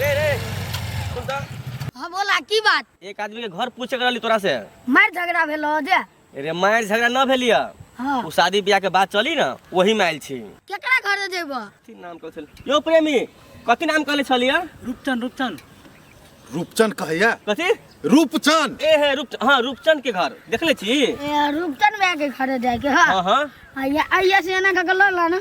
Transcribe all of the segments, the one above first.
रे रे सुन त हाँ बोला की बात एक आदमी के घर पूछे के रहली तोरा से मार झगड़ा भेल हो जे रे मार झगड़ा न भेलिया हाँ उ शादी ब्याह के बात चली ना वही में आयल छी केकरा घर जेब कथी नाम कहल छल यो प्रेमी कथी नाम कहले छलिया रूपचन रूपचन रूपचन कहैया कथी रूपचन ए हे रूप हाँ रूपचंद के घर देखले छी रूपचन भैया के घर जाए के हाँ हाँ हाँ आइया आइया से एना कऽ के लऽ ला ना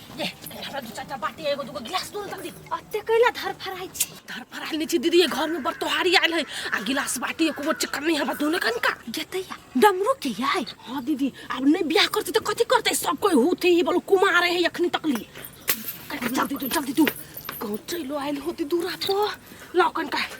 ले हमरा दू चार टा बाटी एगो दूगो गिलास दून तक दे अते कैला धर फराई छी धर पर आयल छी दीदी ये घर में बड़ तोहारी आयल है आ गिलास बाटी एको गो चक्कर नहीं हमरा दूने कन का गेतैया डमरू के याय हाँ दीदी अब नहीं ब्याह करती तो कथी करते सब कोई होते ही बोलो कुमार है अखनी तक ली जल्दी तू जल्दी तू कहूँ चलो आयल होती दूरा तो लौकन का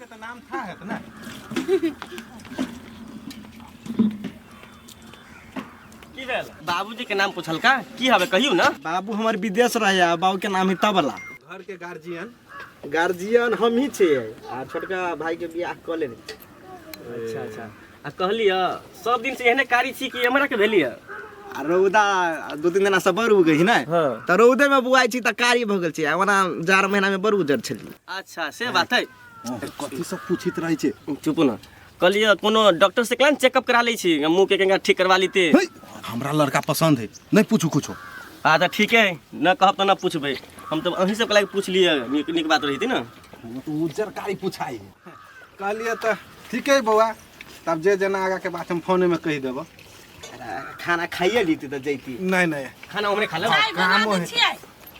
के तऽ नाम था हेत ने की भेल बाबूजी के नाम पूछलका की हवे कहियो ना बाबू हमर विदेश रहे आ बाबू के नाम ही तबला घर के गार्जियन गार्जियन हम ही छियै आ छोटका भाई के बियाह कऽ लेने अच्छा अच्छा आ कहलिय सब दिन से एहने कारी छी कि हमरा के भेलिय आ रौदा दू तीन दिना से बड़ उगै छै ने हाँ। तऽ रौदे में बुआइ छी तऽ कारी भऽ गेल छै आ ओना जाड़ महीना में बड़ उजर छलियै अच्छा से बात है कथी सब पूछित रहै छै चुप न कहलिय कोनो डॉक्टर से कहीं चेकअप करा लै छी मुंह के कहीं ठीक करवा लेते है, हमरा लड़का पसंद है नहीं पूछू कुछो आ तऽ ठीक है न कहब तऽ न पूछबै हम तऽ अहीं सबके लागि पूछलियै नीक नीक बात रही थी न वो तो उज्जर कारी पूछाई है कहलियै तऽ ठीक है बौआ तब जे जेना आगा के बात हम फोने में कह देबो खाना खाइए लीती तो जैती नहीं नहीं खाना हमरे खा ले चाय बना कामो दै है। छियै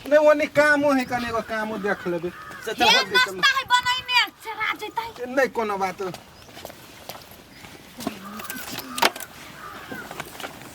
नहीं वो नहीं कामो है कने एगो कामो देख लेबे हे नाश्ता है बनैने चरा जैतै नहीं कोनो बात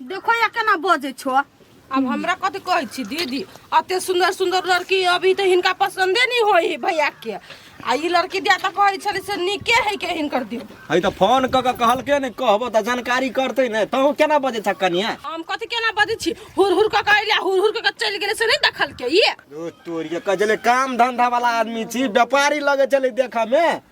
देखो या केना बजे छो अब हमरा कथी कहै छी दीदी अते सुंदर सुंदर लड़की अभी तऽ हिनका पसंदे नहीं होई है भैया के आ ई लड़की दिया तऽ कहै छलै से नीके है के हिनकर दियो है तऽ फोन कऽ कऽ कहलकै ने कहबो तऽ जानकारी करतै ने तहूँ केना बजै छ कनिया हम कथी केना बजै छी हुर हुर कऽ कऽ अइला हुर हुर कऽ कऽ चलि गेलै से नहीं देखलकै ये ओ तोरिया कजले काम धंधा वाला आदमी छी व्यापारी लगे चले देखा में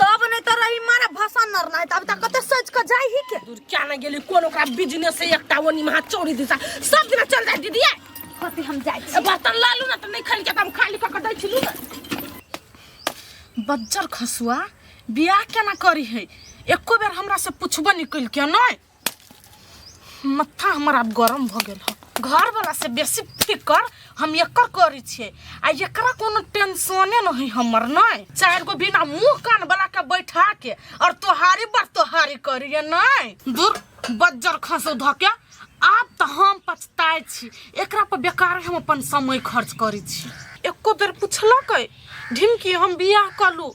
तब नहीं तो रही मारा भसन नर नहीं तब तक कते सोच के जाई ही के दूर क्या ना गेली कोन ओकरा बिजनेस से एकटा ओनी महा चौरी दिशा सब दिन चल जाए दीदी कते हम जाई ए, बर्तन ला लू ना तो नहीं खाली के हम खाली कऽ के दै छी लू ना बज्जर खसुआ बियाह केना करी है एको बेर हमरा से पूछबो निकल के नहीं मत्था हमर आब गरम भऽ गेल हँ घरवला से बेसी फिकर हम एकर करै छियै आ एकरा कोनो टेंशने न है हमर नै चार गो बिना मुंह कान वाला के बैठा के और तोहारी पर तोहारी करिए नै दूर बज्जर खसो ध के आब तऽ हम पछताय छी एकरा पर बेकार हम अपन समय खर्च करै छी एको बेर पुछलकै ढिमकी हम बियाह कलू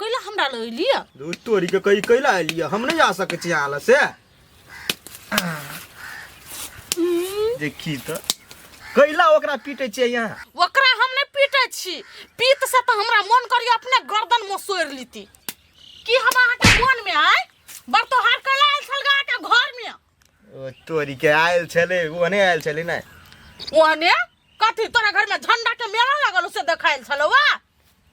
कैला हमरा लग एलियै धूर तोरी के कही कैला एलियै हम नहीं जा सके छी आला से देखी तो कैला ओकरा पीटे छे यहाँ ओकरा हम नहीं पीटे छी पीत से तो हमरा मन करी अपने गर्दन में सोर लीती की हम अहाँ के मन में आए बड़ तोहार कैला आयल छल गा के घर में ओ तोरी के आयल छले ओने आयल छले ना ओने कथी तोरा घर में झंडा के मेला लगल उसे देखाइल छलो वा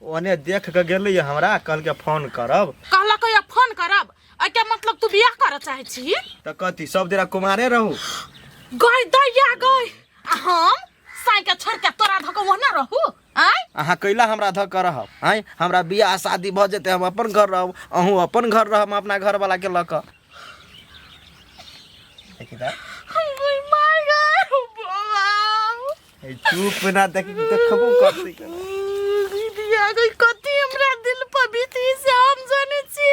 ओने देख के गेले ये हमरा कल के फोन करब कहला को या फोन करब एके मतलब तू बियाह कर चाहे छी त कथी सब दिना कुमारे रहू गई दैया गई आ हम साई के छोड़ के तोरा धको वहना रहू आय अहाँ कैला हमरा धऽ के रहब आँय हमरा बियाह शादी भऽ जेतै हम अपन घर रहब अहूँ अपन घर रहब हम अपना घरवलाके लऽ कऽ देखी तऽ, ओइ माय गॉड बाबा ए, चुप ना देखी देखबो करतै केना। दीदी आ गई कति हमरा दिल पर बीती से हम जाने छी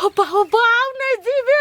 हो बाबा नहीं जीवे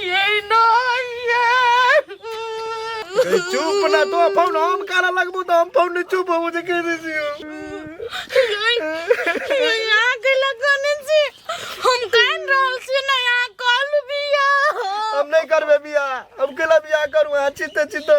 ये ना ये ए, चुप ना तो फोन हम काला लगबू तो हम फोन नहीं चुप हो जे कह दे छियो यहाँ के लगने से हम कान रहल से ना यहाँ कॉल भी है हम नहीं करबे बिया हम केला बिया करू हां चिते चिते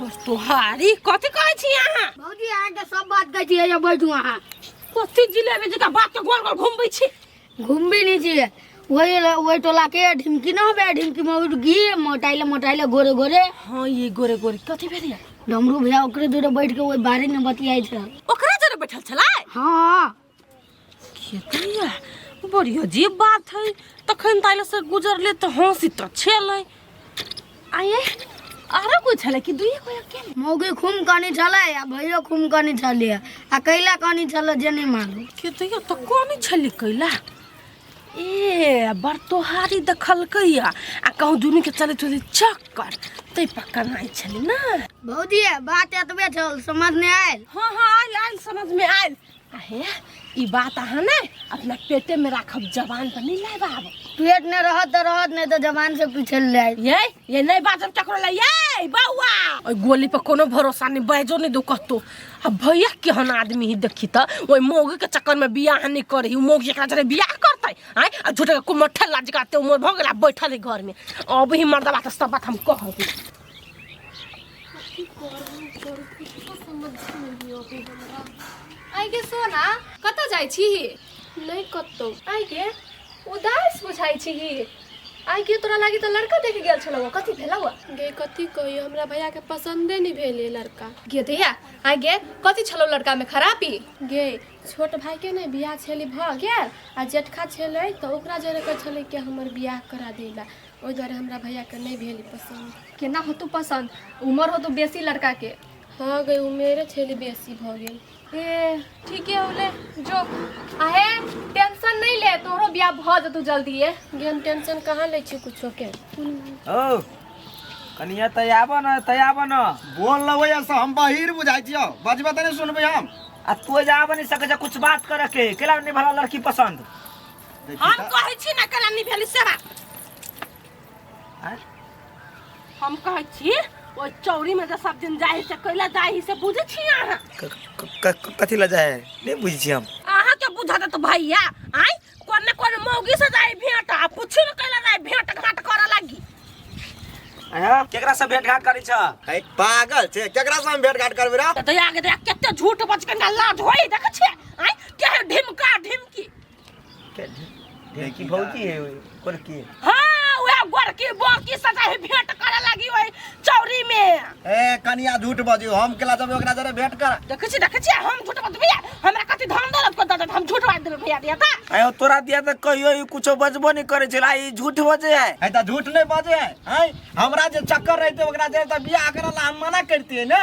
बस तोहारी कथी कहै छी अहाँ भौजी अहाँ के सब बात कहै छी एजा बैठू अहाँ कथी जिलेबी जका बात के गोल गोल घुमबै छी घूमबी नहीं चाहिए वही वही टोला के ढिमकी ना होबे ढिमकी में उठ गी मोटाइले मोटाइले गोरे गोरे हां ये गोरे गोरे कथी भेलिया डमरू भैया ओकरे दूर बैठ के वही बारे में बतियाई छल ओकरा जरे बैठल छला हां खेतिया बड़ी अजीब बात है तखन ताले से गुजरले तो हंसी तो छेले आये आरो कोई छले कि दुई कोई अकेले मौगी खूम कनी छले आ भैयो खूम कनी छले आ कैला कनी छले जे नहीं मालूम खेतिया तो कोनी छली कैला ए बर तोहारी दखल कैया आ कहूँ दुनू के चले चले चक्कर तै पक्का नहीं छली ना भौजी बात एतबे छल समझ नहीं आयल हाँ हाँ आयल आयल समझ में आयल अहे ई बात अहाँ ने अपना पेटे में राखब जवान पर नहीं लाए बाब पेट ने रहत तो रहत नहीं तो जवान से पीछे ले आए ये ये नहीं बात हम टकरो ले ये बउआ ओए गोली पर कोनो भरोसा नहीं बैजो नहीं दो कहतो अब भैया केहन आदमी ही देखी त ओए मोगी के चक्कर में बियाह नहीं करी उ मोगी एकरा जरे बियाह करतै आय आ झूठे के कुमठल लाज काते उमर भ गेला बैठल है घर में अब ही मर्दा बात सब बात हम कहब आइ के सोना कतऽ जाइ छी नहि कतौ आइ के उदास बुझाइ छी आइ के तोरा लागी तऽ लड़का देखे गेल छलौ कथी भेलौ गे कथी कहियो हमरा भैया के पसंदे नहि भेल ये लड़का गे दैया आइ गे कथी छलौ लड़का में खराबी गे छोट भाई के ने बियाह छेली भऽ गेल आ जेठका छेलै तऽ ओकरा जरे कहै छेलै कि हमर बियाह करा देला ओहि दुआरे हमरा भैयाके नहि भेल ई पसन्द केना होतौ पसन्द उमर होतौ बेसी लड़काके हँ गई उमेरे छेली बेसी भऽ गेल ए ठीके होले जो आहे टेंशन नहीं ले तोहरो बियाह भऽ जेतौ जल्दीए गे हम टेंशन कहाँ लै छी कुछोके ओ कनिया तै आबऽ न तै आबऽ न बोल लबै ऐसा हम बहिर बुझाइ छियो बजबे तऽ नहि सुनबै हम आ तू जा आबऽ नहि सकै छै कुछ बात करऽ के केला नहि भला लड़की पसन्द देखी हम त- कहै छी ना कला निभेली सेवा आँय? हम कहै छी ओ चौरी में जे सब दिन जाहि से कैला जाहि से बुझै छी अहाँ क- क- क- क- कथी लऽ जाए नहि बुझै छी हम अहाँ के बुझा देत भैया आय कोन ने कोन मौगी से जाहि भेंट आ पूछी न कैला जाहि भेंट घाट करे लागी अहाँ केकरा से भेंट घाट करै छ है पागल छै केकरा से हम भेट घाट करबै रे दया के दया केते झूठ बच के लाज होई देख छी आय के ढिमका ढिमकी देखी भौजी है कोर की हाँ वह गोरकी बोरकी सजा है भेंट करे लगी वही चौरी में ए कनिया झूठ बजियो हम केला जब ओकरा जरे भेंट कर देखे छी देखे छी हम झूठ बात भैया हमरा कथी धान दौलत को दादा हम झूठ बात देबे भैया दिया ता आयो तोरा दिया त कहियो ई कुछो बजबो नहीं करे छला ई झूठ बजे है है त झूठ नहीं बजे है हैं? हमरा जे चक्कर रहते ओकरा जरे त बियाह करला हम मना करती है ना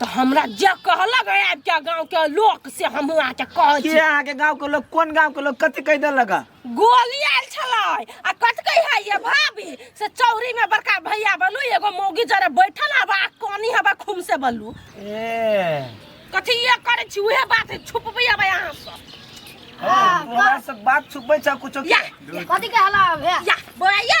तऽ हमरा जे कहलक है आबि के गाँव के लोक से हमहूँ अहाँके कहै के छी अहाँ के गांव के लोग कोन गांव के लोग कथि कह देलक है? गोली आयल छलै आ कथी कहै है ये भाभी से चौरी में बड़का भैया बनू एगो मौगी जरे बैठल हवा आ कानी हवा खूम से बनू ए कथी ये करै छी उहे बात है छुपबै हवा यहाँ से ओ, तू हमरा से बात छुपै छ कुछो या कथी के हला अब हे या बोलाइए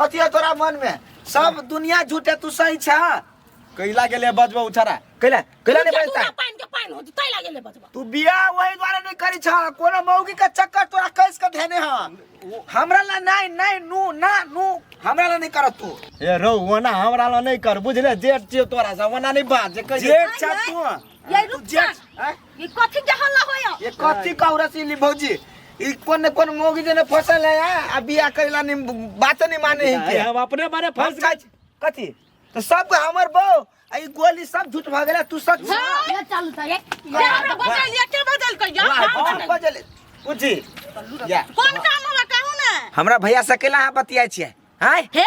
कथी है तोरा मन में सब दुनिया झूठे तू सही छा कैला गेले बजबो उछारा कैला कैला ने बजता है? पाइन के पाइन होती तै लागे ले बचबा तू बियाह वही द्वारा नहीं करी छा कोनो मौगी का चक्कर तोरा कैस के धेने ह हमरा ला नहीं नहीं नू ना नू हमरा ला नहीं करत तू ए रौ वना हमरा ला नहीं कर बुझले जेठ छियो तोरा से वना नहीं बाज जे कैसे अच्छा तू ये तू रुक जा जेठ, हैं? ये कथि के हल्ला होय ये कथी कहरा सिली भौजी ई कोन ने कोन मोगी जने फसल है आ आ बियाह करेला नि बात नहीं माने है के हम अपने बारे फंस फंस गए का कथी तो सब के हमर बो आ ई गोली सब झूठ भ गेला तू सच ये चालू था ये ये हमरा बदल ये के बदल के या वाह, कौन बदल? बजले बुझी या कोन काम हमरा कहू ना हमरा भैया से केला हां बतियाय छियै हैं हे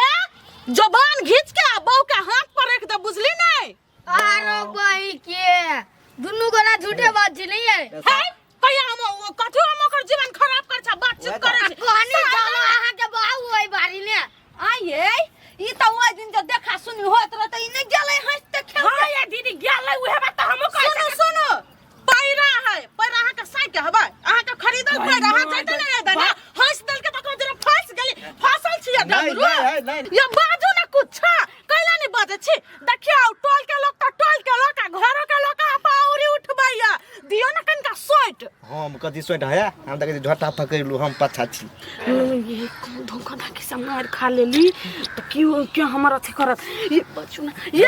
जबान घींच के आ बहू के हाथ पर रख दे बुझली नहीं आरो बही के दुनू गोरा झूठे बात छी नहीं है है कहिया हम ओ कथु हम ओकर जीवन खराब कर छ बातचीत ओहे तऽ। करे छै कहनी जानो अहाँ के बाबू ओइ बारी ने आये ई त ओइ दिन जे देखा सुनी होत रह त ई नै गेलै हंस त खेल हां ये दीदी गेलै उहे बात त हमहु कहै सुनो सुनो पैरा है पैरा अहाँ के साइ के हबे अहाँ के खरीदल भाई, पैरा अहाँ मार जैते दे। नहीं रहते ना हंस दल के तको जरा फंस गेली फसल छिया नहीं, डबरू नहीं, है, नहीं। ये बाजू ना कुछ कैला नहीं बाजे छी देखियो टोल के लोग तो टोल के लोग आ घरो के लोग आ पाउरी उठबैया दियो ना कनका सोट हम कथी सोट है हम तक झोटा पकड़लू हम पाछा छी ये कौन धोखा ना के समार खा लेली तो क्यों क्यों हमारा अथी करत ये बचू ना ये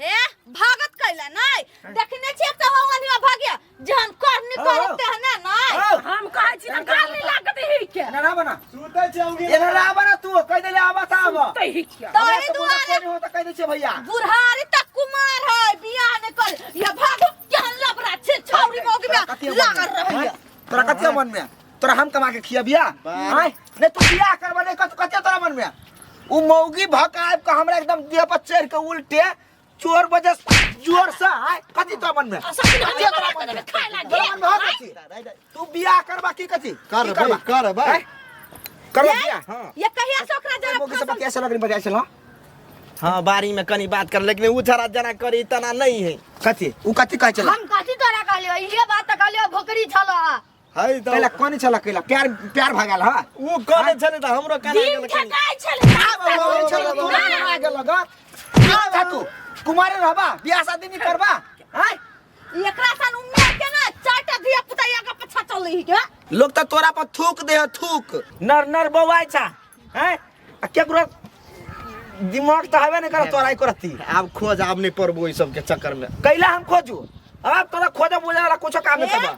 हे भागत कैला नहीं देखने छिए कब वनिया भाग्य जहन करनी हाँ, करे हाँ। तेहने नहीं हाँ। हम कहै छी त काल नहीं लागत ही के एना ना बना सुतै छी औंगी एना ना बना तू कह देले आबा त आबा सुतै ही के तोरे दुआरे हो त कह दे छी भैया बुढ़ारी तक कुमार है बियाह ने कर ये भागो केहन लबरा छे छौरी मौगी में लागल रहैया तोरा कते मन में तोरा हम कमा के खियाबिया बाप। आय नहीं तू बियाह करबा नहीं कत कते तोरा मन में उ मौगी भक आब के हमरा एकदम देह पर चढ़ के उल्टे चोर बजे जोर से आय कथी तोरा मन में सखी ना कथी तोरा मन में खाए लागे तोरा मन में हो कथी तू बियाह करबा की कथी की करबै करबा? करबै आय? करबा बियाह हां ये कहिया से ओकरा जरा मौगी से बतिया से लगनी बतिया से ला हाँ बारी में कनी बात कर लेकिन उ थरा जना करी तना नहीं है कथी उ कथी कहै छला हम कथी तोरा कहलियो इहे बात त कहलियो भोकरी छलो हाय त कैला कोनी छला कैला प्यार प्यार भगाल हा उ कने छले त हमरो कने दिन गेल कने। ठकाइ छलै कोनी छला तोरा करा गेल ग का था तू कुमारे रहबा बियाह शादी नहीं करबा हाय एकरा सन उम्मे के ना चाटा धिया पुता या के पछा चलै के लोग त तोरा पर थूक दे हो थूक नर नर बौआइ छा हैं आ केकरो दिमाग त हवे नै कर तोरा एको रत्ती आब खोज आब नहीं पड़बो ई सब के चक्कर में कैला हम खोजू अब तोरा खोजब बुझे वाला कुछो काम नहीं करबा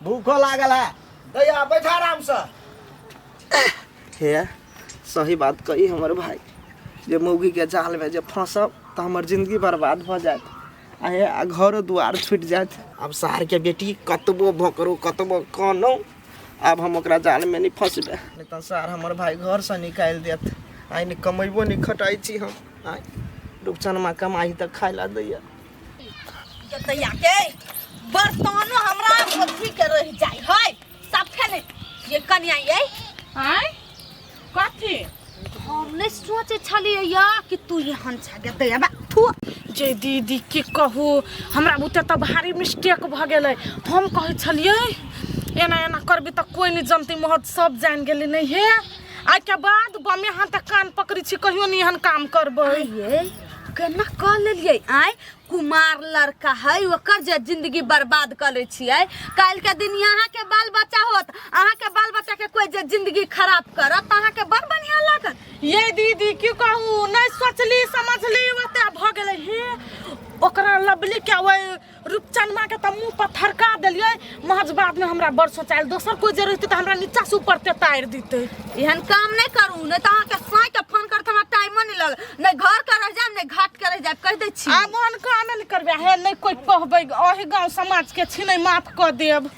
भूखो लागल है भैया बैठा आराम से हे सही बात कही हमर भाई जे मौगी के जाल में जे फंसब तो हमर जिंदगी बर्बाद भ जात आ हे आ घरो दुआर छूट जात अब शहर के बेटी कतबो भोकरो कतबो कानो अब हम ओकरा जाल में नहीं फंसबे नहीं तो सर हमर भाई घर से निकाल देत आइ नहीं कमेबो नहीं खटाई छी हम आइ रूपचनमा कमाई तक खाय ला दैया जतैया के बर्तनो हमरा अथी के रह जाय है सबके ने ये कन्या ये आय कथी हम ने सोचे छलिए या कि तू यहाँ छा जतैया बा थू जे दीदी की कहू हमरा बुते तऽ भारी मिस्टेक भऽ गेलै हम कहै छलियै एना एना करबी तऽ कोइ नहि जनती महत सब जानि गेलै नहि हे आइके बाद बमे हाथ कान पकड़ी छी कहियो नहि एहन काम करबै ये केना कऽ लेलियै आँय कुमार लड़का है ओकर जे जिंदगी बर्बाद कऽ लै छियै काल्हि के दिन यहाँ के बाल बच्चा होत अहाँ के बाल बच्चा के कोई जे जिंदगी खराब करत तऽ अहाँ के बड़ बढ़िया लागत ये दीदी की कहू नहीं सोचली समझली ओते भऽ गेलै हे ओकरा लबली के ओहि रूपचनमा के तऽ मुंह पर थरका देलियै महज बाद में हमरा बड़ सोचाइल दोसर कोई जे रहते तऽ हमरा नीचा से ऊपर तेतारि दिते एहन काम नहीं करू नहीं तो अहाँ के साई के फोन करत हमरा टाइम नहीं लग नहीं घर के रह जाए नहीं घाट के रह जाए कह दे छी आब ओहन काम नहि करबै हे नहि कोई कहबै अही गांव समाज के छिनै माफ कऽ देब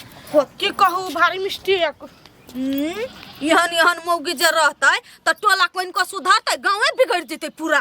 की कहू भारी मिस्टेक हम्म, एहन एहन मौगी जे रहते तो टोला कोइन को सुधरते गाँवे बिगड़ जते पूरा